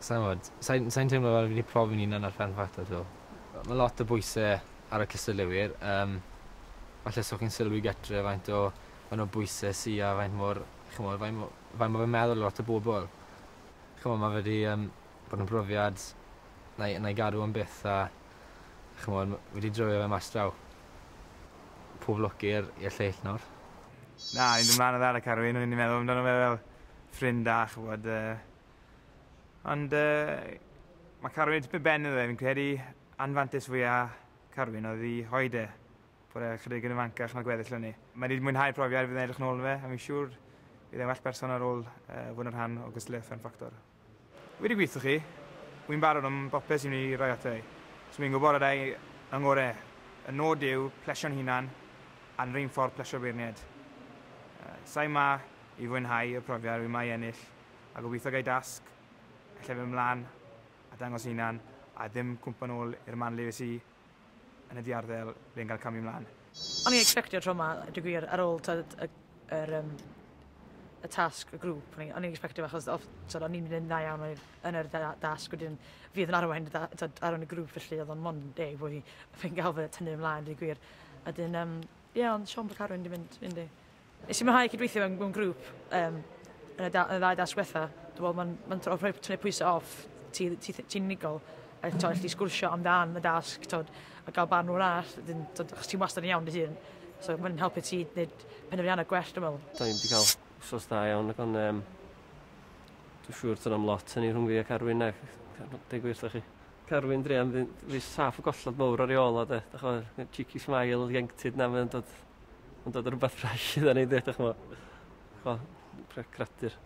Sai'n gwbod. Sai'n sai'n teimlo fel fi 'di profi'n unan ar Fferm Fata 'to. Yy ma' lot o bwyse ar y cystadleuwyr yym falle so chi'n sylwi gytre faint o faint o bwyse sy a faint mor ch'mod faint mo- faint ma' fe'n meddwl lot o bobol. Ch'mo' ma' fe 'di yym bod yn brofiad 'nai 'nai gadw am byth a ch'mod ma' fi 'di dreulio fe mas draw. Pob lwc i'r i'r lleill nawr. Na fi'n dod mlan o ddau a carw un o'n i 'di meddwl amdano fe fel ffrind da ch'mod yy Ond uh, mae Carwyn tipyn ben iddo fe, fi'n credu anfantes fwyaf Carwyn oedd i hoed e, bod e chydig yn ifancach na gweddill o'n ni. Mae wedi mwynhau profiad fydd yn edrych nôl fe, a fi'n siŵr bydd e'n well person ar ôl uh, fod yn rhan o gysylltu Fun Factor. Wedi gweithio chi, wy'n barod am bopeth sy'n ei roi ato i. So fi'n gwybod y dau yng ngorau. Y nod yw plesio'n hunan a'n rhain ffordd plesio beirniaid. Uh, Sa'i ma i fwynhau y profiad wy'n mae ennill, a gobeithio gai dasg ella fyn mlan a dangos hunan a ddim cwmpo nol i'r man le es i yn y diarddel ble yn cael camu mlan. O'n i'n expectio tro ma a dwi gwir ar ôl t'od y yr yym y tasg y grŵp o'n i o'n i'n expectio achos off t'od o'n i'n mynd yn dda iawn oedd yn yr da- dasg wedyn fi oedd yn arwain y da- t'od arwain y grŵp felly oedd o'n mond deg bo' fi fi'n ga'l fy tynnu ymlaen deu gwir a 'dyn yym ie ond Siôn Carwyn 'di mynd yndi? Nes i mwynhau cydweithio mewn, mewn grŵp um, yn, y da, yn y ddau dasg wetha. Dwi'n meddwl mae'n ma tro rhoi tynnu pwysau off ti'n ti, ti, ti unigol. A to, allai sgwrsio amdan y dasg tod, a gael barn o'r arall. Dyn, tod, chos ti'n wastad yn iawn dy hun. So mae'n helpu ti wneud penderfyniannau gwell, dwi'n meddwl. Da ni'n wedi cael sos da iawn, ac ond um, dwi'n siŵr tyn am lot hynny rhwng fi a Carwyn, ac deg wir, da chi. Carwyn Drian, fi saff y gollad mowr ar ei ôl o, de. Da chi'n cheeky smile, ieuenctid na, mae'n dod Ond oedd rhywbeth ffres i ddyn ni, dych chmo. Chmo, cradur.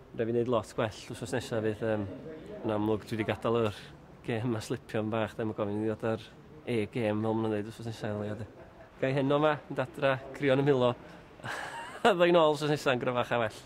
Rhaid fi wneud lot gwell wrth nesaf fydd um, yn amlwg dwi wedi gadael yr gêm a slipio yn bach, ddim yn gofyn i ddod ar e-gêm fel maen nhw'n dweud wrth nesaf yn leiad. Gai heno yma, yn dadra, crion y milo. a ddwy'n ôl wrth nesaf yn gryfach a well.